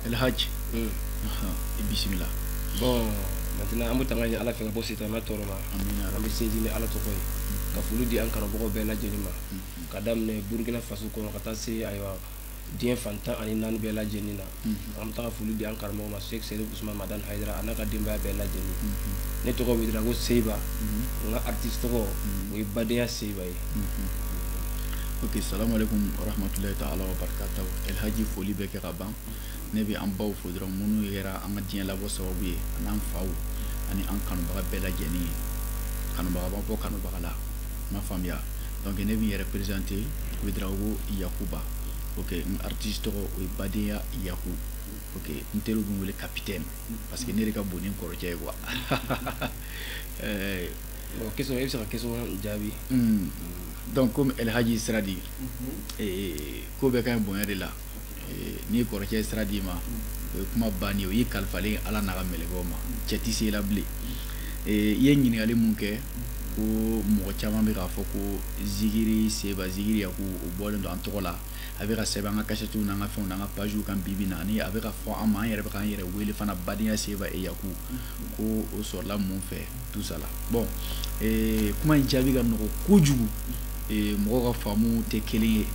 El Hadj. Hmm. i bisimila. bon maintenant an bɛ tanga ɲini ala fɛ ka bɔ sitanɛ tɔɔrɔ ma an bɛ sinsin ni ala tɔgɔ ye ka foli di an karamɔgɔ bɛɛ lajɛlen ma hmm. ka daminɛ burukina faso kɔnɔ ka taa se ayiwa diɲɛ fan tan ani naani bɛɛ lajɛlen na hmm. an bɛ taa foli di an karamɔgɔ ma sek serif usman madan hayidara a n'a ka denbaya bɛɛ lajɛlen ne tɔgɔ wedrago seba n ka artiste tɔgɔ o ye badenya seba ye ok salamu alaikum warahmatulahi ta'ala wa barakatahu elhaji foli bɛɛ kɛ ka ban ne bɛ an baw fo dɔrɔn minnu yɛra an ka diɲɛ labɔ sababu ye an'an faw ani an kanubaga bɛɛ lajɛlen ye kanubaga b'a bɔ kanubaga la ma faamuya donc ne bɛ yɛrɛ présenter wedrago yakuba ok n artiste tɔgɔ o ye badenya yaku ok n teriw bɛ n wele capitaine parce que ne de ka bon ni n kɔrɔcɛ ye quoi question e bɛ se ka question jaabi. Hmm. donc komi El Hadji sira di. Mhm. Eh, ko bɛɛ ka ɲi bonya de la. Eh, n'i kɔrɔcɛ ye sira d'i ma. Mhm. o ye kuma bannen o y'i kalifalen ala n'a ka mɛlɛkɛw ma mhm. cɛ tɛ se i la bilen. Eh, i ye ɲininkali mun kɛ. ko mɔgɔ caman bɛ k'a fɔ ko zigiri seba zigiri yaku o bɔlen don an tɔgɔ la a bɛ ka sɛbɛn an ka kasɛtiw n'an ka fɛnw n'an ka paziw kan bibi na ani a bɛ ka fɔ an ma an yɛrɛ bɛ k'an yɛrɛ wele fana badenya seba et yaku ko o sɔrɔla mun fɛ tout ça là bon eh, kuma in jaabi ka nɔgɔ kojugu eh, mɔgɔw ka faamu tɛ kelen ye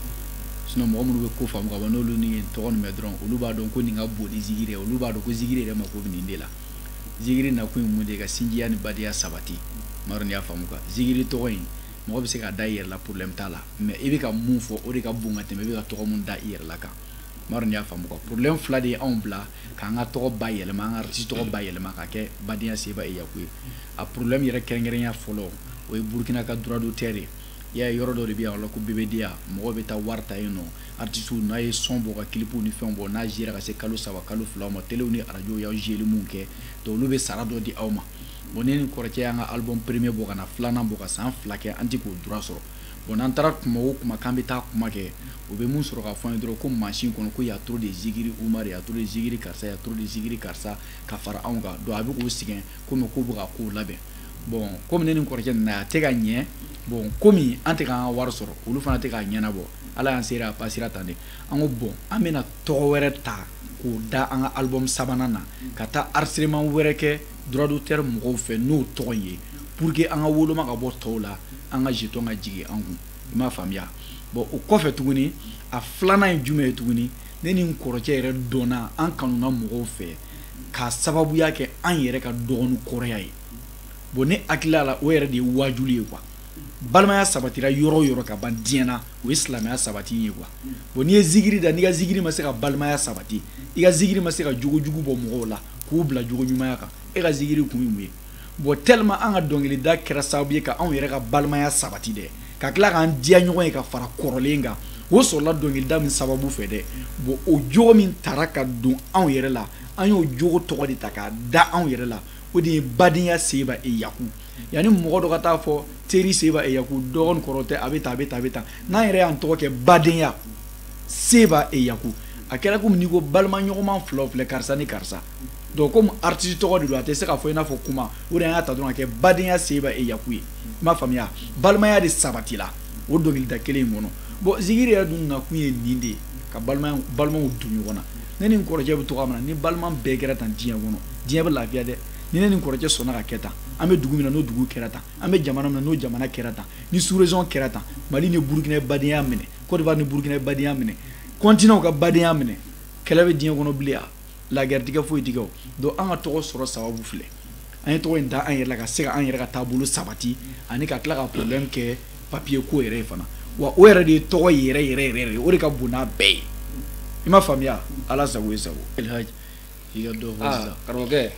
sinon mɔgɔ minnu bɛ ko faamu ka ban n'olu nin tɔgɔ nin mɛn dɔrɔn olu b'a dɔn ko nin ka bon ni zigiri ye olu b'a dɔn ko zigiri yɛrɛ mako bɛ nin de la zigiri nakun ye mun de ye ka sinjiya ni badenya sabati m'a dɔn n'i y'a faamu quoi zigiri tɔgɔ in mɔgɔ bɛ se k'a da i yɛrɛ la problème t'a la mais i bɛ ka mun fɔ o de ka bon ka tɛmɛ i bɛ ka tɔgɔ mun da i yɛrɛ la kan m'a dɔn n'i y'a faamu quoi problème fila de ye anw bila k'an ka tɔgɔ bayɛlɛma an ka artiste tɔgɔ bayɛlɛma ka kɛ badenya seba et yaku ye a problème yɛrɛ kɛrɛnkɛrɛnya fɔlɔ o ye burkina ka droit d'auteur ye i y'a ye yɔrɔ dɔ de bɛ yan o la ko bbda mɔgɔw bɛ taa wari ta yen nɔ artisiw n'aw ye son bɔ ka kilipuw ni fɛnw bɔ n'a zera ka se kalo saba kalo filaw ma telew ni arajow y'aw zeli mun kɛ donc olu bɛ sara dɔ di aw ma bon ne ni kɔrɔcɛ y'an ka album premier bɔ ka na filanan bɔ ka san fila kɛ an tɛ k'o droit sɔrɔ Bon n'an taara kuma o kuma k'an bɛ taa kuma kɛ u bɛ mun sɔrɔ ka fɔ an ye dɔrɔn ko mansin kɔnɔ ko y a trop de zigiri Umaru y a trop de zigiri karisa y a trop de zigiri karisa ka fara anw kan donc a bɛ k'u sɛgɛn komi k'u bɛ ka kow labɛn bon komi ne ni n kɔrɔcɛ nana a tɛ ka ɲɛ bon komi an tɛ k'an ka wari sɔrɔ olu fana tɛ k'a ɲɛnabɔ ala y'an seere a pasera tan de an ko bon an bɛna tɔgɔ wɛrɛ ta k'o da an ka album sabanan na ka taa enregistrement wɛrɛ kɛ droit d'auteur mɔgɔw fɛ n'o tɔgɔ ye pour que an ka woloma ka bɔ tɔw la an ka jeton ka jigin an kun i m'a faamuya bon o kɔfɛ tuguni a filanan ye jumɛn ye tuguni ne ni n kɔrɔcɛ yɛrɛ dɔnna an kanuna mɔgɔw fɛ k'a sababuya kɛ an yɛrɛ ka dɔgɔ ni kɔrɔya ye bon ne hakilila la o yɛrɛ de ye waajuli ye quoi balimaya sabatira yɔrɔ yɔrɔ ka ban diɲɛ na o ye silamɛya sabati ye quoi bon n'i ye zigiri da n'i ka zigiri ma se ka balimaya sabati i ka zigiri ma se ka jogojugu bɔ mɔgɔw la k'u bila jogo ɲumanya kan e ka zigiri kun ye mun ye bon tellement an ka dɔnkilida kɛra sababu ye ka anw yɛrɛ ka balimaya sabati dɛ ka tila k'an diya ɲɔgɔn ye ka fara kɔrɔlen kan o sɔrɔla dɔnkilida min sababu fɛ dɛ bon o jogo min tara ka don anw yɛrɛ la an y'o jogo tɔgɔ de ta k'a da anw yɛrɛ la o de ye badenya seba et yaku yanni mɔgɔ dɔ ka taa fɔ teri seba et yaku dɔgɔ ni kɔrɔ tɛ a bɛ tan a bɛ tan a bɛ tan n'an yɛrɛ y'an tɔgɔ kɛ badenya seba et yaku a kɛra komi n'i ko balima ɲɔgɔnma fila o filɛ karisa ni karisa donc komi artiste tɔgɔ de don a tɛ se ka fɔ i n'a fɔ kuma o de an y'a ta dɔrɔn k'a kɛ badenya seba et yaku ye i m'a faamuya balimaya de sabatila o dɔnkilida kelen in kɔnɔ bon zigiri yɛrɛ dun nakun ye nin de ye ka balimaw don ɲɔgɔn na ne ni n kɔrɔkɛ bɛ cogoya min na ni balima bɛɛ kɛra tan diɲɛ kɔnɔ diɲɛ bɛ lafiya dɛ ni ne ni n kɔrɔkɛ sɔnna ka kɛ tan an bɛ dugu min na n'o dugu kɛra tan an bɛ jamana min na n'o jamana kɛra tan ni sous-région kɛra tan mali ni burukina badenya minɛ côte d'ivoire ni burukina badenya minɛ continent ka badenya minɛ kɛlɛ bɛ diɲɛ kɔnɔ bilen a la guerre tɛ kɛ foyi tɛ kɛ o donc an ka tɔgɔ sɔrɔ sababu filɛ an ye tɔgɔ in da an yɛrɛ la ka se ka an yɛrɛ ka taabolo sabati ani ka tila ka problème kɛ papier ko yɛrɛ ye fana wa o yɛrɛ de ye tɔgɔ yɛrɛ yɛrɛ yɛrɛ o de ka bon n'a bɛɛ ye i m'a faamuya ala sago i sago i ka dɔ fɔ ah, sisan karamɔgɔkɛ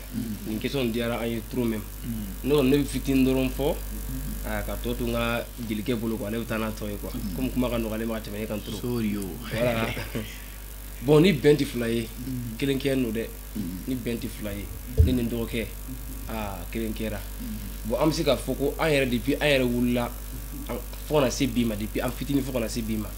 nin question diyara an ye trop même ne kɔni ne bɛ fitini dɔrɔn fɔ ah, ka tɔ to n ka jelikɛ bolo quoi ne bɛ taa n'a tɔ ye quoi komi kuma ka nɔgɔ ale ma ka tɛmɛ ne kan trop voilà bon ni bɛn tɛ fila ye kelen kɛ n'o dɛ ni bɛn tɛ fila ye ne ni n dɔgɔkɛ aa kelen kɛra bon an bɛ se k'a fɔ ko an yɛrɛ depuis an yɛrɛ wulila fo ka na se bi ma depuis an fitini fo ka na se bi ma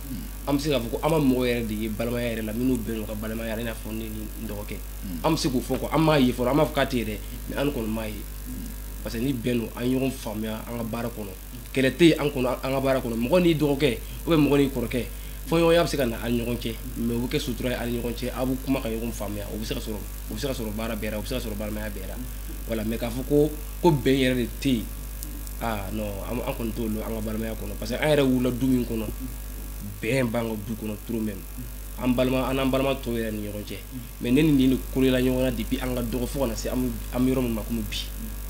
an bɛ se k'a fɔ ko an ma mɔgɔ yɛrɛ de ye balimaya yɛrɛ la minnu bɛ yen u ka balimaya yɛrɛ i n'a fɔ ne ni n dɔgɔkɛ hmm. an bɛ se k'o fɔ ko an m'a ye fɔlɔ an m'a fɔ k'a tɛ yen dɛ mais an kɔni m'a ye hmm. parce que ni bɛn don an ye ɲɔgɔn faamuya an ka baara kɔnɔ kɛlɛ tɛ yen an kɔnɔ an ka baara kɔnɔ mɔgɔ n'i dɔgɔkɛ ou bien mɔgɔ n'i kɔrɔkɛ fɔɲɔgɔnya bɛ se ka na aw ni ɲɔgɔn cɛ mais o bɛ kɛ sutura ye aw ni ɲɔgɔn cɛ aw bɛ kuma ka ɲɔgɔn faamuya o bɛ se ka sɔrɔ o bɛ se ka sɔrɔ baara bɛɛ la o bɛ se ka sɔrɔ balimaya bɛɛ la voilà mais k'a fɔ ko ko bɛn yɛrɛ de tɛ yen aa non an kɔni t'o dɔn an ka balimaya kɔnɔ parce que an yɛrɛ wulila du min kɔnɔ bɛn b'an ka du kɔnɔ trop même an n'an balima tɔw yɛrɛ ni ɲɔgɔn cɛ mais ne ni nin de kolola ɲɔgɔn na depuis an ka dɔgɔ fo ka na se an bɛ yɔrɔ min ma kɔmi bi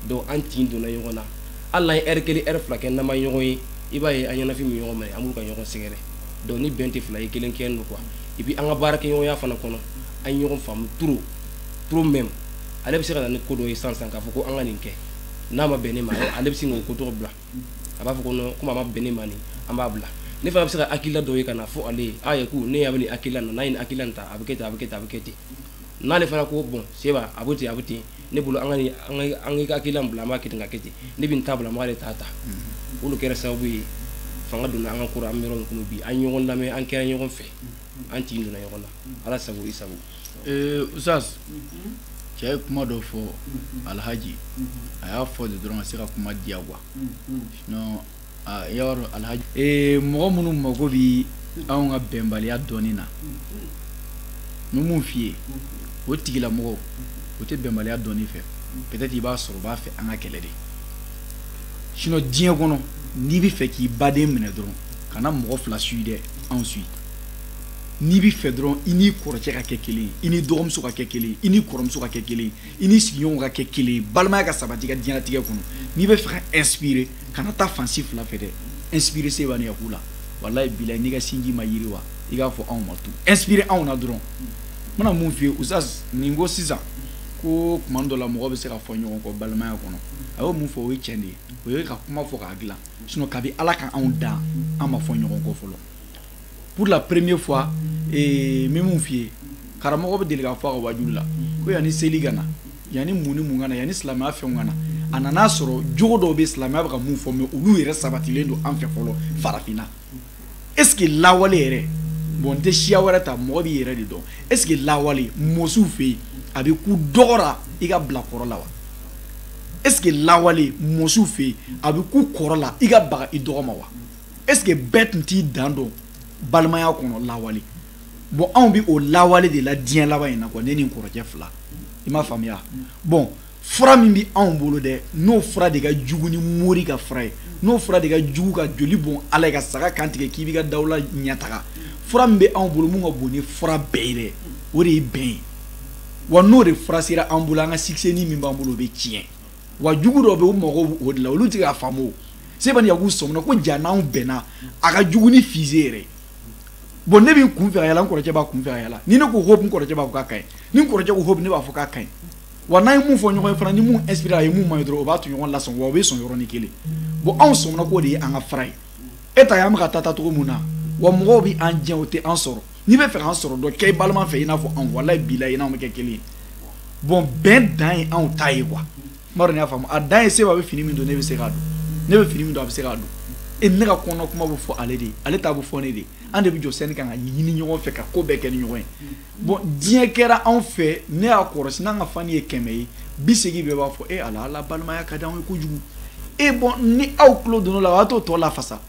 donc an tin donna ɲɔgɔn na hali n'an ye heure kelen heure fila kɛ n'an ma ɲɔgɔn ye i b'a ye an ɲɛnafin bɛ ɲɔgɔn minɛ an b'u ka ɲɔgɔn sɛgɛrɛ donc ni bɛn tɛ fila ye kelen kɛ don quoi et puis an ka baarakɛɲɔgɔnya fana kɔnɔ an ɲɔgɔn faamu trop trop même ale bɛ se ka na ni ko dɔ ye sisan k'a fɔ ko an ka nin kɛ n'a ma bɛn ne ma ale bɛ se k'o ko tɔgɔ bila a b'a fɔ ko komi a ma bɛn ne ma nin an b'a bila ne fana bɛ se ka hakilila dɔ ye ka n'a fɔ ale ye a ye ko ne y'a nin hakilila na n'a ye hakilila ta a bɛ kɛ a bɛ kɛ a bɛ kɛ ten n'ale fana ko bon seba a bɛ ten a bɛ ten ne bolo an ka hakilila bila an b'a kɛ ka kɛ ten ne bɛ n ta bila an b'ale ta ta olu kɛra sababu ye fanga donna an ka ko an bɛ yɔrɔ min bi an ɲɔgɔn lamɛn an kɛra ɲɔgɔn fɛ an tin donna ɲɔgɔn na ala sago i sago ee ustaz cɛ ye kuma dɔ fɔ alhaji a y'a fɔ de dɔrɔn ka se ka kuma diya quoi sinon i y'a dɔn alhaji ee mɔgɔ minnu mago bɛ anw ka bɛnbaliya dɔɔni na n bɛ mun f'i ye o tigilamɔgɔw u tɛ bɛnbaliya dɔɔni fɛ peut-être i b'a sɔrɔ u b'a fɛ an ka kɛlɛ de sinon diɲɛ kɔnɔ n'i b'a fɛ k'i baden minɛ dɔrɔn kana mɔgɔ fila suivre dɛ anw suivre n'i b'a fɛ dɔrɔn i n'i kɔrɔcɛ ka kɛ kelen ye i n'i dɔgɔmuso ka kɛ kelen ye i n'i kɔrɔmuso ka kɛ kelen ye i n'i sigiɲɔgɔnw ka kɛ kelen ye balimaya ka sabati i ka diɲɛlatigɛ kɔnɔ n'i b'a fɛ ka inspirer kana taa fan si fila fɛ dɛ inspirer seba ni yaku la walayi bilayi n'i ka sinji ma yiriwa i k'a fɔ anw ma tu inspirer anw na dɔrɔn n bɛna mun f'i ye ustaz nin ko sisan ko tuma dɔ la mɔgɔ bɛ se ka fɔ ɲɔgɔn kɔ balimaya kɔnɔ a y'o mun fɔ o ye tiɲɛ de ye o ye ka kuma fɔ k'a dilan sinon kabi ala ka anw dan an ma fɔ ɲɔgɔn kɔ fɔlɔ pour la première fois eh, n bɛ mun f'i ye karamɔgɔ bɛ deli k'a fɔ a ka waajulu la ko yanni seli ka na yanni mun ni mun ka na yanni silamɛya fɛnw ka na a nan'a sɔrɔ jogo dɔw bɛ silamɛya bɛ ka mun fɔ mais olu yɛrɛ sabatilen don an fɛ fɔlɔ farafinna est ce que lawale yɛrɛ bon n tɛ siya wɛrɛ ta mɔgɔ b'i yɛrɛ de dɔn est ce que lawale mɔsiw fɛ yen a bɛ kun dɔgɔ ra i ka bila kɔrɔ la wa est ce que lawale mɔsiw fɛ yen a bɛ kun kɔrɔ la i ka baga i dɔgɔ ma wa est ce que bɛɛ tun t'i dan dɔn balimaya kɔnɔ lawale bon anw bɛ o lawale de la diɲɛ laban in na quoi ne ni n kɔrɔkɛ fila i m'a faamuya bon fura min bɛ anw bolo dɛ n'o fura de ka jugu ni mori ka fura ye n'o fura de ka jugu ka joli bɔn ala ye ka saga kan tigɛ k'i b'i ka dawula ɲɛtaga fura min bɛ anw bolo min ka bon ni fura bɛɛ ye dɛ o de ye bɛn ye wa n'o de fura sera an bolo an ka succès nin min b'an bolo o bɛ tiɲɛ wa jugu dɔw bɛ u mago b'o de la olu tɛ k'a faamu seba ni yaku sɔmina ko ja n'anw bɛnna a ka jugu ni fusée yɛrɛ bon ne bɛ n kun fɛ ka yala n kɔrɔkɛ b'a kun fɛ ka yala ni ne ko hop n kɔrɔkɛ b'a fɔ k'a ka ɲi ni n kɔrɔkɛ ko hop ne b'a fɔ k'a ka ɲi wa n'an ye mun fɔ ɲɔgɔn ye fana ni mun inspiré a ye mun man ɲi dɔrɔn o b'a tɔɲɔgɔn lasɔn wa o bɛ sɔn yɔrɔnin kelen bon anw sɔmina k'o de ye an ka fura ye e t'a y'an bɛ ka taa taa cogo min na wa mɔgɔw bɛ an jɛ o tɛ an sɔrɔ n'i bɛ fɛ k'an sɔrɔ dɔ kɛ i balima fɛ i n'a fɔ an walayi bilayi n'anw bɛ kɛ kelen ye bon bɛn dan ye anw ta ye quoi n m'a dɔn n'i y'a faamu a dan ye seba bɛ fini min don ne bɛ se k'a don ne bɛ fini min don a bɛ se k'a don e ne ka kɔnɔ kuma bɛ fɔ ale de ye ale ta bɛ fɔ ne de ye an de bɛ jɔ sɛni kan ka ɲini ɲɔgɔn fɛ ka ko bɛɛ kɛ ni ɲɔgɔn ye bon diɲɛ kɛra anw fɛ ne y'a kɔrɔsi n'an ka fani ye kɛmɛ ye bi segin bɛɛ b'a fɔ e ala a la balimaya ka di anw ye kojugu e bon ni aw tulo donna o b'a to tɔ lafasa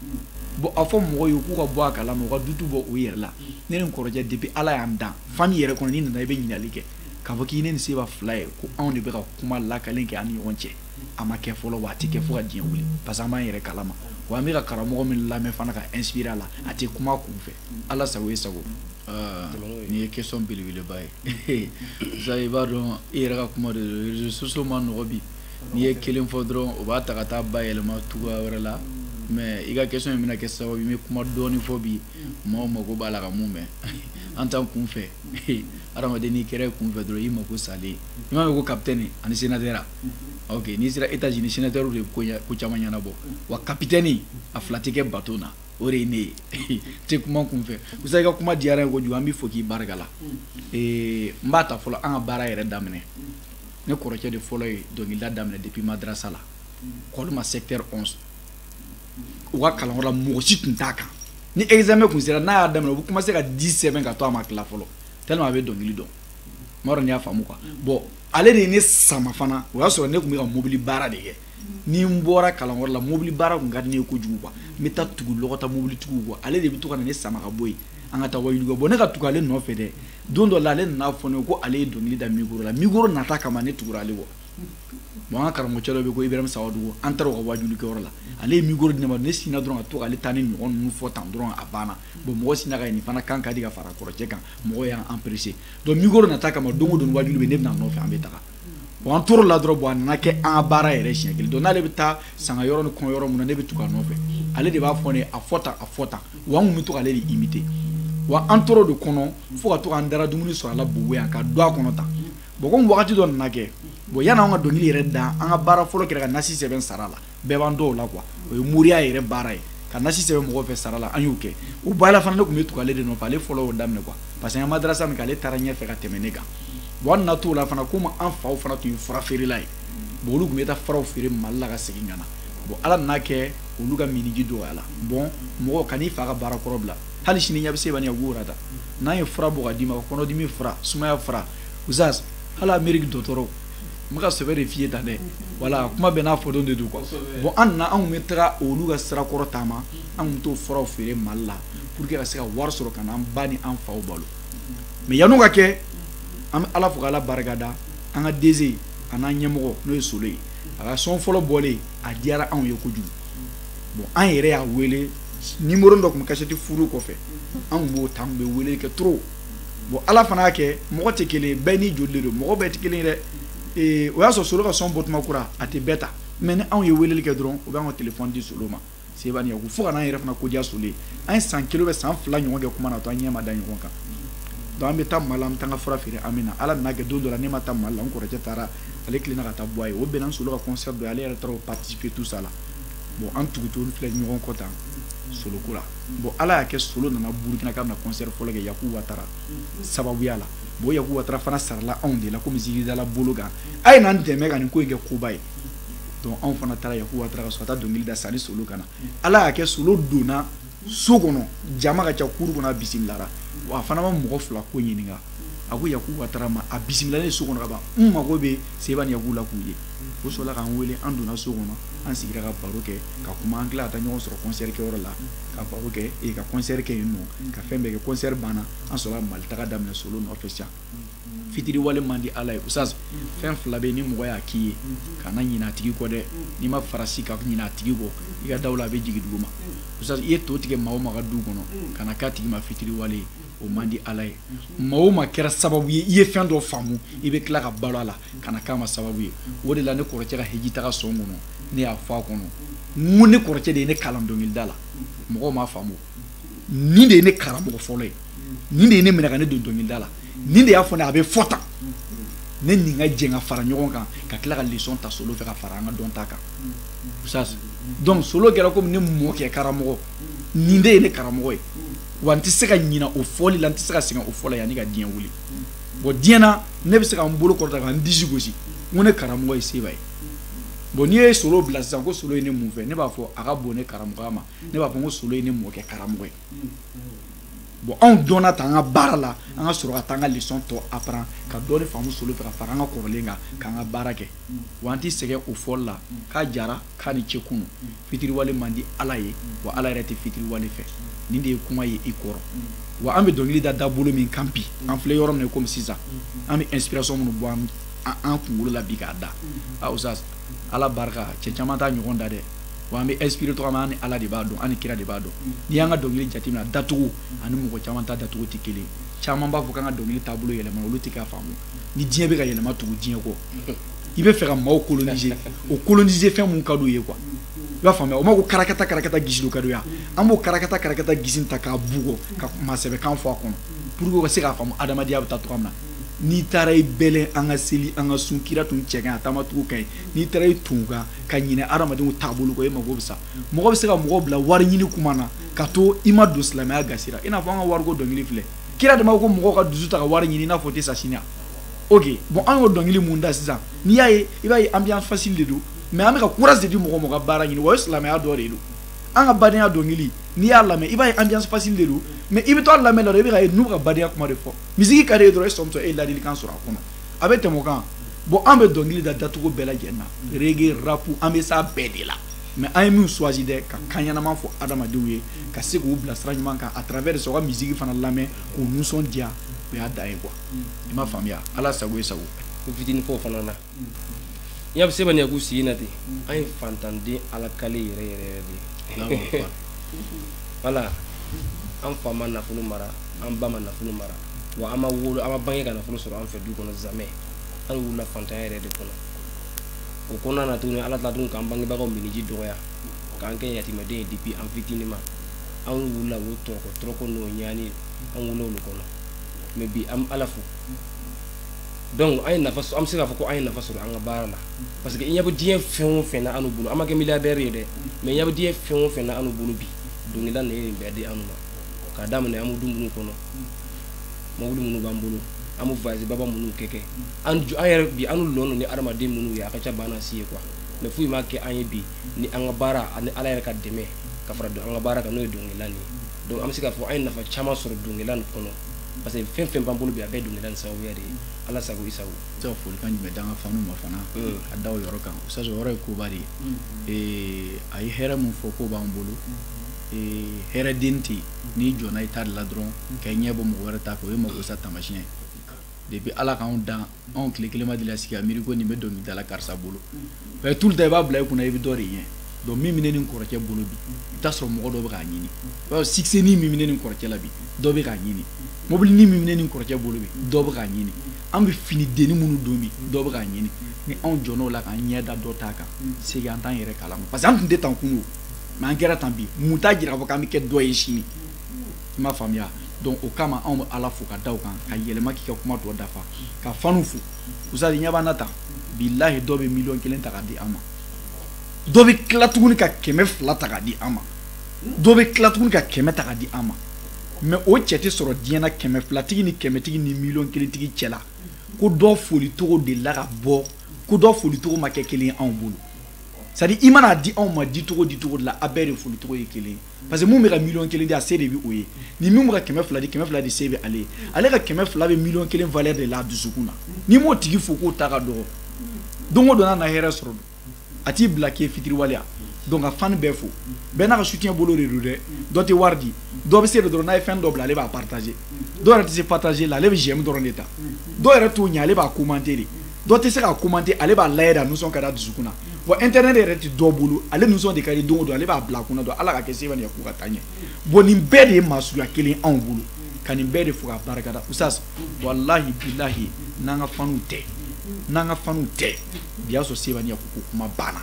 bon a fɔ mɔgɔw ye k'u ka bɔ a kalama u ka dutu bɔ u yɛrɛ la ne ni n kɔrɔcɛ depuis ala y'an dan fami yɛrɛ kɔnɔ n'i nana i bɛ ɲininkali kɛ k'a fɔ k'i ne ni seba fila ye ko anw de bɛ ka kuma lakalen kɛ an ni ɲɔgɔn cɛ a ma kɛ fɔlɔ wa a tɛ kɛ fo ka diɲɛ wuli parce que an b'an yɛrɛ kalama wa an bɛ ka karamɔgɔ min lamɛn fana ka inspirer a la a tɛ kuma kun fɛ ala sago i sago nin ye question belebeleba ye sa i b'a dɔn i yɛrɛ ka kuma de don réseaux sociaux ma nɔgɔ bi n'i ye kelen fɔ dɔrɔn o b'a ta ka taa bayɛlɛma cogoya wɛrɛ la mais i ka question in bɛna kɛ sababu n bɛ kuma dɔɔnin fɔ bi maaw mako b'a la ka min mɛn an t'an kun fɛ adamaden n'i kɛra i kun fɛ dɔrɔn i mako salen i m'a mɛn ko capitaine ani sénateur ok n'i sera états-unis sénateur de ko caman ɲɛnabɔ wa capitaine a fila tɛ kɛ bato na o de ye ne ye tɛ kuma kun fɛ ustaz i ka kuma diyara n ye kojugu an b'i fo k'i barika la n b'a ta fɔlɔ an ka baara yɛrɛ daminɛ ne kɔrɔcɛ de fɔlɔ ye dɔnkilida daminɛ depuis madrasa la kɔlima secteur 11 u ka kalanyɔrɔ la mɔgɔ si tun t'a kan ni examen kun sera n'a y'a daminɛ u bɛ commencer ka 10 sɛbɛn ka to a ma tila fɔlɔ tellement a bɛ dɔnkili dɔn n m'a dɔn n'i y'a faamu quoi bon ale de ye ne sama fana o y'a sɔrɔ ne tun bɛ ka mobili baara de kɛ ni n bɔra kalanyɔrɔ la mobili baara tun ka di ne ye kojugu quoi n bɛ taa tugu lɔgɔta mobilitigiw kɔ ale de bɛ to ka na ne sama ka bɔ yen an ka taa wajuli kɛ bon ne ka tugu ale nɔfɛ dɛ don dɔ la ale nana fɔ ne ko ale ye dɔnkili da mikoro la mikoro nata kama ne tugura ale kɔ bon an ka karamɔgɔcɛ dɔ bɛ ko ibrahima sawadugu an taara u ka wajulikɛyɔrɔ la ale ye mikoro di ne ma ne sinna dɔrɔn ka to k'ale ta nin ɲɔgɔn ninnu fɔ tan dɔrɔn a banna bon mɔgɔ sinna ko nin fana kan ka di ka fara kɔrɔcɛ kan mɔgɔ y'an apprécier donc mikoro nata kama don o don wajuli bɛ ne bɛ n'a nɔfɛ an bɛ taga bon an tor'o la dɔrɔn bon a nana kɛ an ka baara yɛrɛ siɲɛ kelen donc n'ale bɛ taa sanga yɔrɔ ni kɔɲɔ yɔrɔ min na ne bɛ tugu a nɔfɛ ale de b'a fɔ ne ye a fɔ tan a fɔ tan wa an tun bɛ to k'ale de imiter wa an tor'o de kɔnɔ fo ka to k'an dara dumuni sɔrɔ a la bobo yan k'a don an kɔnɔ tan bon komi wagati dɔ nana kɛ bon yann'an ka dɔnkili yɛrɛ da an ka baara fɔlɔ kɛra ka nasi sɛbɛn sara la bɛɛ b'an dɔn o la quoi o ye moriya yɛrɛ baara ye ka nasi sɛbɛn mɔgɔ fɛ sara la an y'o kɛ o baara fana ne tun bɛ tugu ale de nɔfɛ ale fɔlɔ y'o daminɛ quoi parce que an madarasa min kɛ ale taara ɲɛfɛ ka tɛmɛ ne kan bon an nana t'o la fana komi an faw fana tun ye fura feerela ye bon olu tun bɛ taa furaw feere mali la ka segin ka na bon ala nana kɛ olu ka miniji dɔgɔyala bon mɔgɔ kan'i fa ka baara kɔrɔ bila hali sini ne bɛ se bani ka guwara ta n'an ye fura bɔ ka d'i ma kɔnɔdimi fura sumaya fura ustaz hali ameriki dɔgɔtɔrɔw n bɛ ka sɛbɛ de f'i ye tan dɛ voilà kuma bɛɛ n'a fɔdon de don quoi bon an nana an tun bɛ taga olu ka sirakɔrɔ taama an tun bɛ t'o furaw feere mali la pour que ka se ka wari sɔrɔ ka n'an ba ni an faw balo mais yan'o ka kɛ an bɛ ala fo k'ala barikada an ka DG a n'an ɲɛmɔgɔ n'o ye solo ye a ka sɔn fɔlɔ bɔlen a diyara anw ye kojugu bon an yɛrɛ y'a wele numéro dɔ tun bɛ kasɛti furu kɔfɛ an tun b'o ta an tun bɛ wele kɛ trop bon ala fana y'a kɛ mɔgɔ tɛ kelen bɛɛ n'i joli don mɔgɔ bɛɛ tɛ kelen dɛ ee o y'a sɔrɔ solo ka sɔn bɔtuma kura a tɛ bɛɛ ta mais ni anw ye weleli kɛ dɔrɔn u b'an ka telefɔni di solo ma seba ni yaku fo ka n'an yɛrɛ fana ko diya solo ye an ye san kelen san fila ɲɔgɔn kɛ kuma na to an ɲɛ ma da ɲɔgɔn kan donc an bɛ taa mali la an bɛ taa an ka fura feere an bɛ na ala nan'a kɛ don dɔ la ne ma taa mali la n kɔrɔkɛ taara ale tilenna ka taa bɔ a ye o bɛnna solo ka concert dɔ ye ale yɛrɛ taara o participer tout ça la bon an tugutugulen filɛ ɲɔgɔn kɔ tan solo ko la bon ala y'a kɛ solo nana burukina k'a bɛna concert fɔlɔ kɛ yaku watara sababuya la bon yaku watara fana sarala anw de la komi zikiridala bolo kan a ye n'an dɛmɛ ka nin ko in kɛ koba ye donc anw fana taara yaku watara ka so ka taa dɔnkili da sani solo ka na ala y'a kɛ solo donna so kɔnɔ jama ka ca cour kɔnɔ a bisimilara wa a fana ma mɔgɔ fila ko ɲininka a ko yaku watara ma a bisimilalen so kɔnɔ ka ban n mago bɛ seba ni yaku la k'u ye o sɔrɔla k'an wele an donna so kɔnɔ an sigira ka baro kɛ ka kuma an tila ka taa ɲɔgɔn sɔrɔ concert kɛyɔrɔ la ka baro kɛ ee ka concert kɛ yen nɔ ka fɛn bɛɛ kɛ concert banna an sɔrɔla mali taga daminɛ solo nɔfɛ sisan fitiriwale man di ala ye oustaz fɛn fila bɛ ni mɔgɔ y'a k'i ye kana ɲinɛ a tigi kɔ dɛ n'i ma farasi ka ɲinɛ a tigi kɔ i ka dawula bɛ jigin dugu ma oustaz i ye to tigɛ maa o maa ka du kɔnɔ kana k'a tigi ma fitiriwale ye o man di ala ye maa o maa kɛra sababu ye i ye fɛn dɔ faamu i bɛ tila ka balo a la kana k'a ma sababu ye o de la ne kɔrɔkɛ ka hiji taga sɔn kɔnɔ ne y'a fɔ a kɔnɔ n ko ne kɔrɔkɛ de ye ne kalan dɔnkilida la mɔgɔw m'a faamu nin de ye ne karamɔgɔ fɔlɔ ye nin de ye ne minɛ ka ne don dɔnkilida la nin de y'a fɔ ne a bɛ fɔ tan ne nin ka jɛn ka fara ɲɔgɔn kan ka tila ka leçon ta solo fɛ ka fara an ka dɔn ta kan oustaz donc solo kɛra komi ne mɔkɛ karamɔgɔ nin de ye ne karamɔgɔ ye wa n tɛ se ka ɲina o fɔli la n tɛ se ka sɛgɛn o fɔ la yanni ka diɲɛ wuli bon diɲɛ na ne bɛ se ka n bolo kɔrɔta ka n disi gosi n ko ne karamɔgɔ ye seba ye bon n'i ye solo bila sisan ko solo ye ne mun fɛ ne b'a fɔ a ka bon ne karamɔgɔya ma ne b'a fɔ n ko solo ye ne mɔkɛ karamɔgɔ ye bon anw dɔnna ta an ka baara la an ka sɔrɔ ka taa an ka leçon tɔ apprendre ka dɔɔni faamu solo fɛ ka fara an ka kɔrɔlen kan k'an ka baara kɛ wa an tɛ sɛgɛn o fɔli la k'a jara k'a ni ce kunu fitiriwale man di ala ye wa ala yɛrɛ tɛ fitiriwale fɛ nin de ye kuma ye i kɔrɔ wa an bɛ dɔnkili da dabolo min kan bi an filɛ yɔrɔ min na komi sisan an bɛ inspiration minnu bɔ an kunkolo la bi k'a da oustaz ala barika cɛ caman t'a ɲɔgɔn da dɛ wa an bɛ inspiré cogo min an ni ala de b'a dɔn an ni kira de b'a dɔn n'i y'an ka dɔnkili jateminɛ dacogo ani mɔgɔ caman ta dacogo tɛ kelen caman b'a fɔ k'an ka dɔnkili taabolo yɛlɛma olu tɛ k'a faamu ni diɲɛ bɛ ka yɛlɛma tugu diɲɛ kɔ i bɛ fɛ ka maaw coloniser o coloniser fɛn mun ka di u ye quoi i b'a faamuya o ma ko karakata karakata gisilu ka d'u ye an b'o karakata karakata gisi ta k'a bugɔ ka maa sɛbɛ kan fɔ a kɔnɔ pour que u ka se k'a faamu adamadenya bɛ taa cogo min na n'i taara i bɛlɛn an ka seli an ka sun kira tun cɛ ka ɲi a taamacogo ka ɲi n'i taara i to o kan ka ɲinɛ adamadenw taabolo kɔ e mako bɛ sa mɔgɔ bɛ se ka mɔgɔ bila wari ɲini kuma na ka to i ma don silamɛya gasi ra i n'a fɔ an ka wariko dɔnkili filɛ kira dama ko mɔgɔw ka dusu ta ka wari ɲini i n'a fɔ u tɛ sa sini a ok bon an y'o dɔnkili min da sisan n'i y'a ye i b'a ye ambiance facile de don mais an bɛ ka courage de di mɔgɔ ma ka baara ɲini wa o ye silamɛya dɔ de don an ka badenya dɔnkili n'i y'a lamɛn i b'a ye ambiance facile de don mais i bɛ to a lamɛn la dɔrɔn i bɛ ka ye n'u ka badenya kuma de fɔ misiki ka d'i ye dɔrɔn e sɔmitɔ e ye ladilikan sɔrɔ a kɔnɔ a bɛ tɛmɛ o kan bon an bɛ dɔnkili da dacogo bɛɛ lajɛlen na reggae rap an bɛ s'a bɛɛ de la mais an ye min choisi dɛ ka kan ɲɛnama fɔ adamadenw ye ka se k'u bila sira ɲuman kan à travers de ça ka misiki fana lamɛn k'u nisɔndiya o y'a dan ye quoi i m'a faamuya ala sago i sago ko fitini fɔ o fana na n y'a seba ɲɛ k'u sigi na ten an ye fantanden alakale yɛrɛ yɛrɛ yɛrɛ de ye voilà an fa ma nafolo mara an ba ma nafolo mara wa an ma wolo an ma bange ka nafolo sɔrɔ an fɛ du kɔnɔ jamais an wulila fantanya yɛrɛ de kɔnɔ o kɔnɔna na tuguni ala tila tugun k'an bangebagaw minniji dɔgɔya k'an kɛ yatimɛden ye depuis an fitini ma an wulila o tɔrɔkɔ tɔrɔkɔ n'o ɲani an wulila olu kɔnɔ mais bi an ala fo donc an ye nafa an bɛ se k'a fɔ ko an ye nafa sɔrɔ an ka baara la parce que i ɲɛ bɛ diɲɛ fɛn o fɛn na annu bolo an ma kɛ milliardaire ye dɛ mais i ɲɛ bɛ diɲɛ fɛn o fɛn na annu bolo bi dɔnkilida nin ye nin bɛɛ di an ma k'a daminɛ an bɛ du minnu kɔnɔ mobili minnu b'an bolo an bɛ voyage baba minnu kɛ kɛ an yɛrɛ bi an lɔn don ni adamaden minnu ye a ka ca baana si ye quoi mais foyi m'a kɛ an ye bi ni an ka baara ani ala yɛrɛ ka dɛmɛ ka fara an ka baara kan n'o ye dɔnkilida nin ye donc an bɛ se k'a fɔ an ye nafa caman sɔrɔ dɔnkilida nin kɔnɔ parce que fɛn fɛn b'an bolo bi a bɛɛ dɔnkilida nin sababuya de ye ala sago i sago se ka folikan jumɛn d'an ka fanw ma fana mm. ka da o yɔrɔ kan o yɔrɔ ye koba de ye mm. a ye hɛrɛ min fɔ k'o b'an bolo mm. hɛrɛ den tɛ yen n'i jɔnna i ta de la dɔrɔn ka ɲɛbɔ mɔgɔ wɛrɛ ta fɛ o ye makosa taamasiyɛn ye depuis ala k'anw dan anw tile kelen ma deli ka sigi ka miiri ko nin bɛ dɔnkilidala karisa bolo mais tout le temps i b'a bila i kunna i bɛ dɔ de ɲɛ donc min bɛ ne ni n kɔrɔkɛ bolo bi i t'a sɔrɔ mɔgɔ dɔ bɛ k'a ɲini i b'a fɔ succèsni min bɛ ne ni n kɔrɔkɛ la bi dɔ bɛ k'a ɲini mobilini min bɛ ne ni n kɔrɔkɛ bolo bi dɔ bɛ k'a ɲini an bɛ fini denni minnu don bi dɔ bɛ k'a ɲini ni anw jɔn'o la k'an ɲɛ da dɔ ta kan c'est que an t'an yɛrɛ kalama parce que an tun tɛ tan kunun mais an kɛra tan bi mun t'a jira fɔ k'an bɛ kɛ dɔ ye sini i m'a faamuya donc o kama anw bɛ ala fo ka da o kan ka yɛlɛma k'i ka kuma tɔ dafa ka fanw fo usas i ɲɛ b'an na tan bilahi dɔ bɛ miliyɔn kelen ta k'a di an ma dɔ bɛ tila tuguni ka kɛmɛ fila ta k'a di an ma dɔ bɛ tila tuguni ka kɛmɛ ta k'a di an ma mais o cɛ tɛ sɔrɔ diɲɛ na kɛmɛ filatigi ni kɛmɛtigi ni miliyɔn kelentigi cɛ la ko dɔ foli cogo de la ka bɔ ko dɔ foli cogo ma kɛ kelen ye anw bolo c'est à dire i mana a di anw ma di cogo di cogo de la a bɛɛ de foli cogo ye kelen parce que min bɛ ka miliyɔn kelen di a se de bɛ o ye ni min bɛ ka kɛmɛ fila di kɛmɛ fila de se bɛ ale ye ale ka kɛmɛ fila bɛ miliyɔn kelen valeur de la a dusukun na n'i m'o tigi fo k'o ta ka dɔgɔ don o don n'a na hɛrɛ sɔrɔ don a t'i bila k'i ye fitiriwale ye donc ka fan bɛɛ fo bɛɛ n'a ka soutien bolo de don dɛ dɔ tɛ wari di dɔ bɛ se de dɔrɔn n'a ye fɛn dɔ bila ale b'a partager dɔw yɛrɛ tɛ se partager la ale bɛ j'aime dɔrɔn de ta dɔw yɛrɛ t'o ɲɛ ale b'a commenter de dɔ tɛ se k'a commenter ale b'a layɛ de a nisɔn ka d'a dusukun na bon internet yɛrɛ tɛ dɔ bolo ale nisɔn de ka di don o don ale b'a bila a kunna don ala ka kɛ seba nin k'u ka taa ɲɛ bon nin bɛɛ de ye maa suguya kelen anw bolo ka nin bɛɛ de fo ka barikada usas walahi bilahi n'an ka fanw tɛ n'an ka fanw tɛ bi y'a sɔrɔ seba ɲɛ ko kuma banna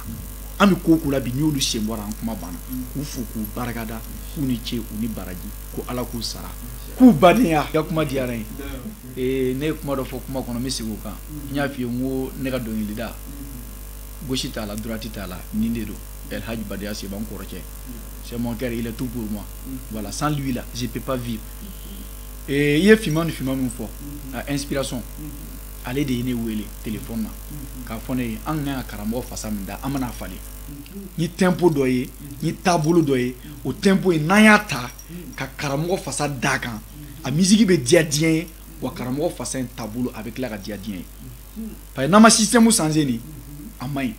an bɛ ko ko la bi n'i y'olu sen bɔ a ra an kuma banna k'u fo k'u barikada k'u ni ce u ni baraji ko ala k'u sara k'u badenya i ka kuma diyara n ye ee ne ye kuma dɔ fɔ kuma kɔnɔ n bɛ segin o kan n y'a f'i ye n ko ne ka dɔnkilida gauche t'a la droite t'a la nin de don El Hadj Badaya Seba n kɔrɔkɛ c'est mon cœur il est tout pour moi voilà sans lui là je peux pas vivre ee i ye finman ni finman min fɔ a inspiration ale de ye ne wele telefɔni na k'a fɔ ne ye an k'an ka karamɔgɔ fasa min da an bɛna a falen ni tempo dɔ ye ni taabolo dɔ ye o tempo in n'an y'a ta ka karamɔgɔ fasa d'a kan a musique bɛ diya diɲɛ ye wa karamɔgɔ fasa in taabolo a bɛ tila ka diya diɲɛ ye parce que n'an ma système changer nin a man ɲi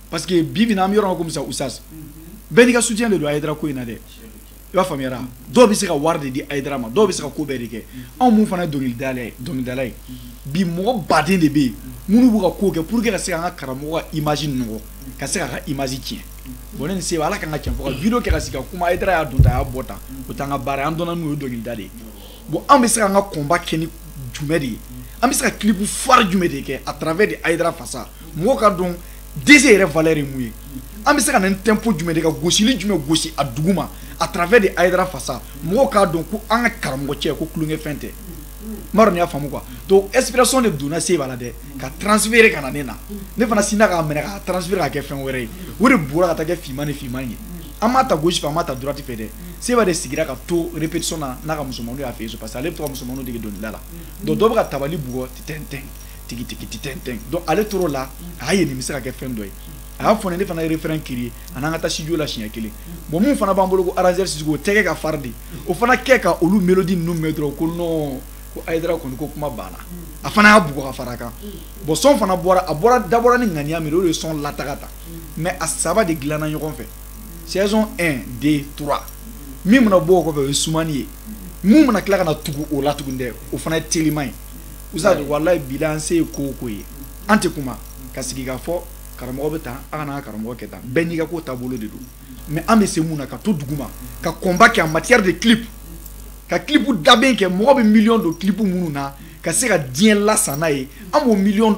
parce que bi bi in na an bɛ yɔrɔ min na komi sisan usas bɛɛ n'i ka soutien de don Hayidara ko in na dɛ i b'a faamuyara dɔw bɛ se ka wari de di Hayidara ma dɔw bɛ se ka ko bɛɛ de kɛ anw minnu fana ye dɔnkilidala ye dɔnkilidala ye bi mɔgɔ baden de bɛ yen minnu b'u ka ko kɛ pour que ka se k'an ka karamɔgɔ ka image nɔgɔ ka se k'a ka image tiɲɛ bon ne ni Seba ala k'an ka cɛn fɔ ka video kɛ ka sigi ka kuma Hayidara y'a don tan a y'a bɔ tan o t'an ka baara ye an dɔnna n'o ye dɔnkilida de ye bon an bɛ se k'an ka combat kɛ ni jumɛn de ye an bɛ se ka clip fari jumɛn de kɛ à travers de Hayidara fasa mɔgɔw k'a dɔn DG yɛrɛ valeur ye mun ye an bɛ se ka na ni tempo jumɛn de ka gosili jumɛn gosi a dugu ma à travers de Hayidara fasa mɔgɔw k'a dɔn ko an ka karamɔgɔ cɛ ko tulonkɛfɛn tɛ ma dɔn y'a faamu quoi donc inspiration de donna se b'a la dɛ ka transférer ka na ne na ne fana sinna k'a minɛ k'a transférer ka kɛ fɛn wɛrɛ ye o de bɔra ka taa kɛ finman ni finman ye an m'a ta gauche fɛ an m'a ta droite fɛ dɛ Seba de sigira ka to répétition na n'a ka musomanninw y'a fɛ yen so parce que ale bɛ to ka musomanninw dege dɔnkilida la donc dɔ bɛ ka tabali bugɔ titɛntɛn tigi tigi titɛntɛn donc ale tor'o la a y'a ye nin bɛ se ka kɛ fɛn dɔ ye a y'a fɔ ne ne fana ye refrain créer a n'an ka taa studio la siɲɛ kelen bon min fana b'an bolo ko arrangeur Sisoko o tɛgɛ ka farin dɛ o fana kɛ ka olu mélodie ninnu mɛn dɔrɔn ko non ko ayidara kɔni ko kuma banna a fana y'a bugɔ ka fara kan bon son fana bɔra a bɔra dabɔra ni ŋaniya min o de ye son lataga ta mais a saba de dilanna ɲɔgɔn fɛ saison 1 2 3 min mana bɔ o kɔfɛ o ye sumani ye min mana tila ka na tugu o la tuguni dɛ o fana ye teliman ye usa de walayi bila an se ye ko o ko ye an tɛ kuma ka sigi ka fɔ karamɔgɔ bɛ tan a kana an ka karamɔgɔ kɛ tan bɛɛ n'i ka ko taabolo de don mais an bɛ se mun na ka to duguma ka combat kɛ en matière de clip ka clip dabɛn kɛ mɔgɔ bɛ million don clip minnu na ka se ka diɲɛ lasan n'a ye an b'o million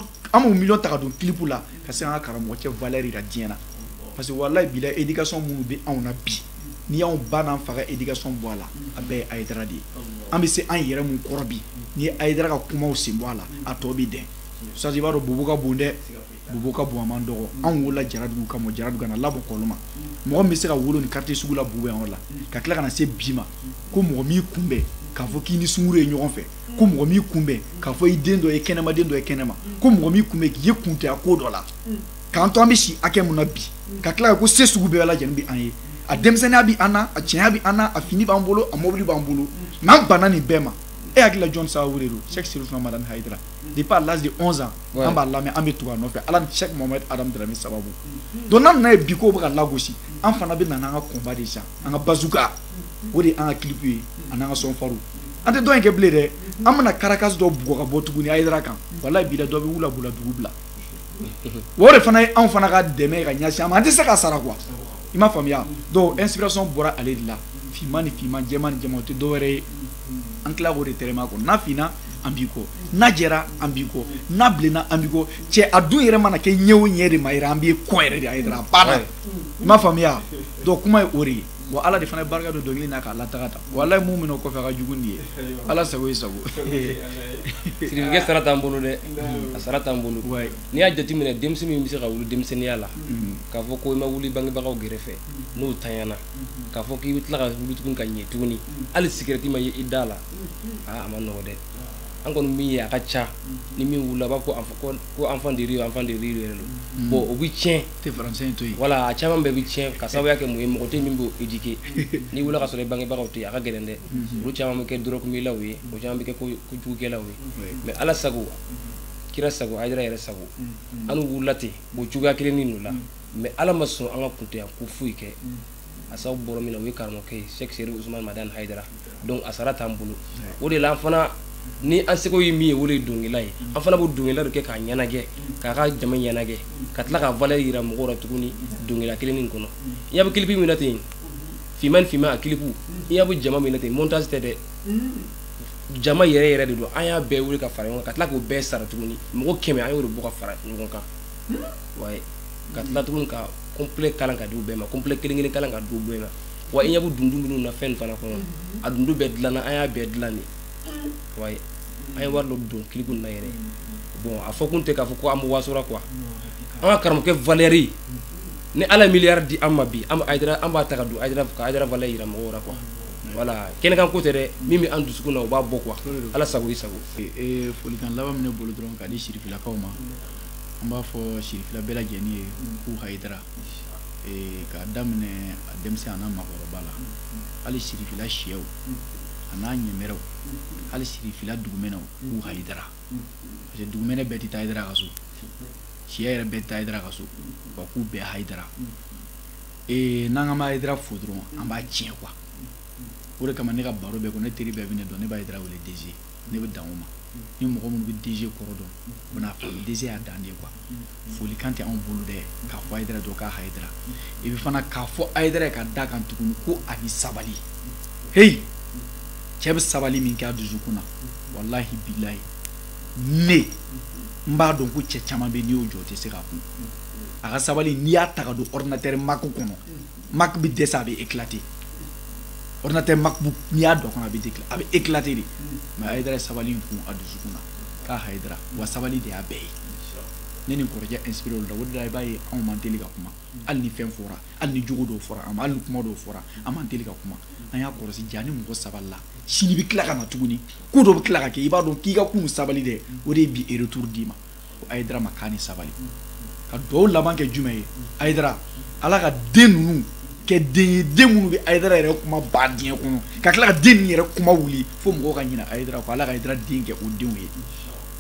ta ka don clip la ka se k'an ka karamɔgɔcɛ valeur yira diɲɛ na parce que walayi bila éducation minnu bɛ anw na bi n'i y'anw ba n'an fa ka éducation bɔ a la a bɛɛ ye ayidara de ye an bɛ se an yɛrɛ mun kɔrɔ bi n'i ye ayidara ka kumaw sen bɔ a la a tɔ bɛ dɛn sadi i b'a dɔn bobo ka bon dɛ bobo ka bon a man dɔgɔ anw wolola Jaradugu ka mɔ Jaradugu ka na laban Kɔlɔma mɔgɔ min bɛ se ka wolo nin quartier sugu la bobo yan yɔrɔ la ka tila ka na se bi ma ko mɔgɔ m'i kunbɛn k'a fɔ k'i ni sunguru ye ɲɔgɔn fɛ ko mɔgɔ m'i kunbɛn k'a fɔ i den dɔ ye kɛnɛma den dɔ ye kɛnɛma ko mɔgɔ m'i kunbɛn k'i ye kunntanya ko dɔ la k'an to an bɛ si hakɛ mun na bi ka tila ko se sugu bɛɛ lajɛlen bɛ an ye a denmisɛnninya bɛ an na a cɛnya bɛ an na a fini b'an bolo a mɔbili b'an bolo n'an banna nin bɛɛ ma e hakili la jɔn sababu de don Sɛki Sirifu Usumani Madani Hayidara depuis à l'âge de 11 ans an b'a lamɛn an bɛ tugu a nɔfɛ ala ni Sɛki Mohamed Adamu Dramé sababu donc n'an nan'a ye bi k'o bɛ ka lagosi an fana bɛ na n'an ka combat de sisan an ka bazooka o de ye an ka clip ye ani an ka son farin an tɛ dɔwɛrɛ kɛ bilen dɛ an bɛna karata dɔ bugɔ ka bɔ tuguni ayidara kan walayi bila dɔ bɛ wula dugu bila o de fana ye anw fana ka dɛmɛ ka ɲɛsin a ma an tɛ se k'a sara quoi i m'a faamuya donc inspiration bɔra ale de la finman ni finman jɛman ni jɛman o tɛ dɔwɛrɛ ye an tila o de tɛma kɔ n'a finna an b'i kɔ n'a jɛra an b'i kɔ n'a bilenna an b'i kɔ cɛ a dun yɛrɛ mana kɛ ɲɛ o ɲɛ de ma yɛrɛ an b'i kɔ yɛrɛ de a yɛrɛ a banna i m'a faamuya donc kuma ye o de ye wa ala de fana ye barika don dɔnkili na k'a lataga ta walayi mun bɛ n'o kɔfɛ a ka jugu nin ye ala sago ye sago sirikɛ sara t'an bolo dɛ a sara t'an bolo n'i y'a jateminɛ denmisɛn min bɛ se ka wuli denmisɛnninya la k'a fɔ ko i ma wuli bangebagaw gɛrɛfɛ n'o tanyana k'a fɔ k'i bɛ tila ka wuli tuguni ka ɲɛ tuguni hali sigɛrɛti ma ye i da la aa a man nɔgɔ dɛ an kɔni min ye a ka ca ni min wulila a b'a fɔ ko enfant de rue enfant de rue yɛrɛ don bon o bɛ tiɲɛ tɛ français to yen voilà a caman bɛɛ bɛ tiɲɛ ka sababu kɛ mun ye mɔgɔ tɛ min b'o éduquer n'i wulila ka sɔrɔ i bangebagaw tɛ a ka gɛlɛn dɛ olu caman bɛ kɛ dɔrɔgumilaw ye o caman bɛ kɛ kojugukɛlaw ye mais ala sago kira sago hayidara yɛrɛ sago an wulila ten o cogoya kelen nin de la mais ala ma sɔn an ka kuntanya ko foyi kɛ a sababu bɔra min na o ye karamɔgɔkɛ ye sɛk serif usman madani haidara donc a sara t'an bolo o de la an fana ni an seko ye min ye o de ye dɔnkilida ye an fana b'o dɔnkilida de kɛ k'a ɲɛnajɛ k'a ka jama ɲɛnajɛ ka tila k'a valeur yira mɔgɔw la tuguni dɔnkilida kelen nin kɔnɔ i ɲɛ bɛ kilipi min na ten finman ni finman a kilipu i ɲɛ bɛ jama min na ten montage tɛ dɛ jama yɛrɛ yɛrɛ de don an y'a bɛɛ wuli ka fara ɲɔgɔn kan ka tila k'o bɛɛ sara tuguni mɔgɔ kɛmɛ an y'o de bɔ ka fara ɲɔgɔn kan wayi ka tila tuguni ka complet kalan ka di u bɛɛ ma complet kelen kelen kalan ka di u bɛɛ ma wa i ɲɛ bɛ dundu minnu na fɛn fana kɔnɔ a dundu bɛɛ dilanna an y'a bɛɛ dilan de wayi an ye wari dɔ don kilipu na yɛrɛ bon a fɔ kun tɛ k'a fɔ ko an bɛ wasora quoi an ka karamɔgɔkɛ valeur ni ala ye miliyari di an ma bi an an b'a ta ka don ka ayidara valeur jira mɔgɔw la quoi voilà kɛnɛkan ko tɛ dɛ min bɛ an dusukun na o b'a bɔ quoi ala sago i sago folikan laban min ne bolo dɔrɔn k'a di sirifilakaw ma an b'a fɔ sirifila bɛɛ lajɛlen ye k'u hayidara k'a daminɛ a denmisɛn a n'a maakɔrɔba la hali sirifila sɛw a n'a ɲɛmɛrɛw hali sirifila dugumɛnɛw k'u hayidara parce que dugumɛnɛ bɛɛ tɛ taa a ka so sɛ yɛrɛ bɛɛ tɛ taa a ka so wa k'u bɛɛ hayidara n'an ka ma hayidara fo dɔrɔn an b'a tiɲɛ quoi o de kama ne ka baro bɛɛ ko ne teri bɛɛ bɛ ne dɔn ne bɛ hayidara wele DG ne bɛ dan o ma ni mɔgɔ minnu bɛ DG kɔrɔ dɔn u bɛn'a faamu DG y'a dan de ye quoi folikan tɛ anw bolo dɛ k'a fɔ Ayidara dɔ k'a Ayidara et puis fana k'a fɔ Ayidara ye ka d'a kan tuguni ko a ni sabali heyi cɛ bɛ sabali min kɛ a dusukun na walahi bilahi ne n b'a dɔn ko cɛ caman bɛ n'i y'o jɔ o tɛ se k'a kun a ka sabali n'i y'a ta ka don ordinateur Mac kɔnɔ Mac bɛ dɛsɛ a bɛ éclater ordinateur MacBook n'i y'a don a kɔnɔ a bɛ décla a bɛ éclater de mais Hayidara ye sabali in kun a dusukun na k'a Hayidara wa sabali de y'a bɛɛ ye ne ni n kɔrɔkɛ inspiré olu la o de la i b'a ye anw man teli ka kuma hali ni fɛn fɔra hali ni jogo dɔw fɔra an ma hali ni kuma dɔw fɔra an man teli ka kuma an y'a kɔlɔsi jaa ni mɔgɔ sabalila sini bɛ tila ka na tuguni ko dɔ bɛ tila ka kɛ i b'a dɔn k'i ka kunun sabali dɛ o de ye bi retour d'i ma ko ayidara ma k'a ni sabali ka dugawu laban kɛ jumɛn ye ayidara ala ka den ninnu kɛ den ye den minnu bɛ ayidara yɛrɛ kuma ba diɲɛ kɔnɔ ka tila ka den ninnu yɛrɛ kuma wuli fo mɔgɔw ka ɲinɛ ayidara ko ala ka ayidara den kɛ o denw ye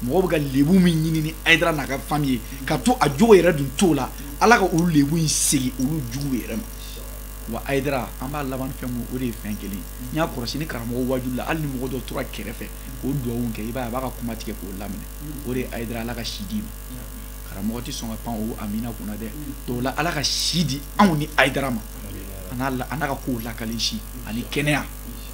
mɔgɔw bɛ ka lebu min ɲini ni ayidara n'a ka fami ye ka to a jogo yɛrɛ dun t'o la ala ka olu lebu in segin olu juguw yɛrɛ ma wa ayidara an b'a laban fɛn mun o de ye fɛn kelen n y'a kɔlɔsi ni karamɔgɔ wajuli la hali ni mɔgɔ dɔ tora kɛrɛfɛ k'o dugawu kɛ i b'a ye a b'a ka kuma tigɛ k'o laminɛ o de ye ayidara ala ka si d'i ma karamɔgɔ tɛ sɔn ka pan o amina kunna dɛ dɔw la ala ka si di anw ni ayidara ma an n'a ka kow lakali si ani kɛnɛya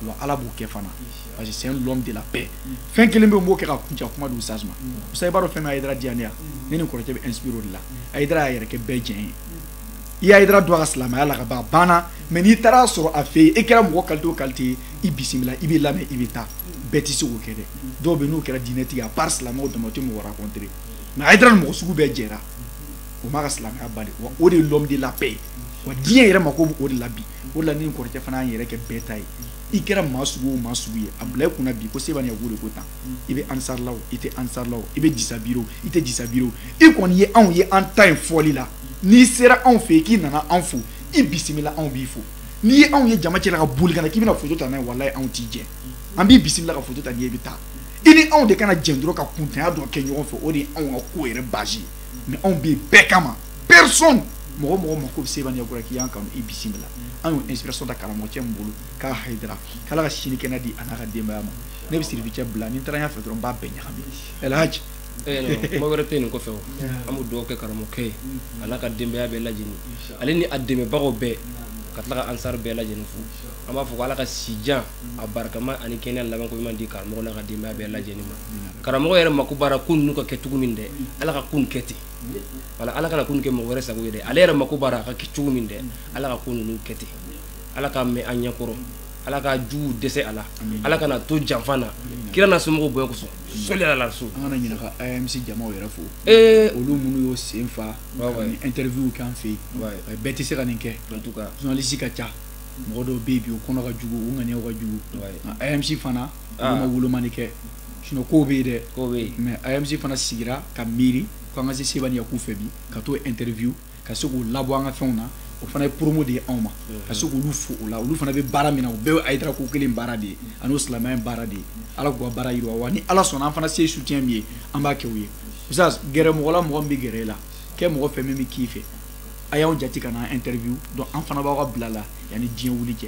wa ala b'o kɛ fana parce que c'est l'homme de la paix fɛn kelen bɛ n b'o kɛ ka kuncɛ kuma di usas ma sa i b'a dɔn fɛn min ayidara diya ne ye ne ni kɔrɔkɛ bɛ inspiré o de la ayidara y'a yɛrɛ kɛ bɛɛ jɛ ye i ayidara dɔn a ka silamɛya la ka ban a banna mais n'i taara sɔrɔ a fɛ yen e kɛra mɔgɔ kalite o kalite ye i bisimila i bɛ lamɛn i bɛ taa bɛɛ tɛ se k'o kɛ dɛ dɔw bɛ n'u kɛra diinɛtigi à part silamɛw dama o tɛ mɔgɔ rencontrer mais ayidara ni mɔgɔ sugu bɛɛ jɛra o m'a ka silamɛya bali wa o de ye l'homme de la paix wa diɲɛ yɛrɛ mako bɛ o de la bi o de la ne ni kɔrɔkɛ fana y'an yɛrɛ kɛ bɛɛ ta ye i kɛra maa sugu o maa sugu ye a bila i kunna bi ko Seba ni Yaku de ko tan i bɛ ansar la o i tɛ ansar la o i bɛ jisabiri o i tɛ jisabiri o i kɔni ye anw ye an ta in fɔli la n'i sera anw fɛ yen k'i nana anw fo i bisimila anw b'i fo n'i ye anw ye jama cɛla ka boli ka na k'i bɛna foto ta n'a ye walayi anw t'i jɛ an b'i bisimila ka foto ta n'i ye i bɛ taa i ni anw de kana jɛn dɔrɔn ka kuntanya dɔ kɛ ɲɔgɔn fɛ o de ye anw ka ko yɛrɛ base ye mais anw bɛ yen bɛɛ kama personne mɔgɔ mɔgɔ mako bɛ seba ni yaku la k'i y'an kanu i bisimila an y'o inspiration ta karamɔgɔcɛ min bolo k'a hayidara k'ala ka si ni kɛnɛya di a n'a ka denbaya ma ne bɛ sirifi cɛ bila ni n taara ɲɛfɛ dɔrɔn n b'a bɛɛ ɲagami ɛlhaji kuma wɛrɛ tɛ nin kɔfɛ o an bɛ dugawu kɛ karamɔgɔkɛ ye a n'a ka denbaya bɛɛ lajɛlen ale ni a dɛmɛbagaw bɛɛ ka tila ka ansar bɛɛ lajɛlen fo an b'a fɔ ko ala ka sijan a barikama ani kɛnɛya laban ko ɲuman di karamɔgɔ n'a ka denbaya bɛɛ lajɛlen ma karamɔgɔ yɛrɛ mako b'a la ko ninnu ka kɛ cogo min dɛ ala ka ko nin kɛ ten wa ala kana ko nin kɛ mɔgɔ wɛrɛ sago ye dɛ ale yɛrɛ mako b'a la a ka kɛ cogo min dɛ ala ka ko ninnu kɛ ten ala k'a mɛn an ɲɛkɔrɔ ala ka jugu dɛsɛ a la ala kana to janfa na kira n'a somɔgɔw bonya kosɔn sɔli ala so an kana ɲinɛ ka amc jamaw yɛrɛ fo ee olu minnu y'u sen fa ka nin interview k'an fɛ yen bɛɛ tɛ se ka nin kɛ journaliste ka ca mɔgɔ dɔw bɛ yen bi u kɔnɔ ka jugu u ŋaniyaw ka jugu nka amc fana ah. olu ma wolomani kɛ sinon kow bɛ yen dɛ kow bɛ yen mais amc fana sigira ka miiri ko an ka se seba ni yaku fɛ bi ka t'u interview ka se k'o labɔ an ka fɛnw na o fana ye promo de ye anw ma ka se k'olu fo o la olu fana bɛ baara min na o bɛɛ ye ayidara ko kelen baara de ye ani o silamɛya baara de ye ala k'u ka baara yiriwa wa ni ala sɔnna an fana se soutien min ye an b'a kɛ u ye usas gɛrɛ mɔgɔ la mɔgɔ min bɛ gɛrɛ e la kɛ mɔgɔ fɛn min bɛ k'i fɛ a y'an jate ka na an interview donc an fana b'aw ka bila la yanni diɲɛ wuli cɛ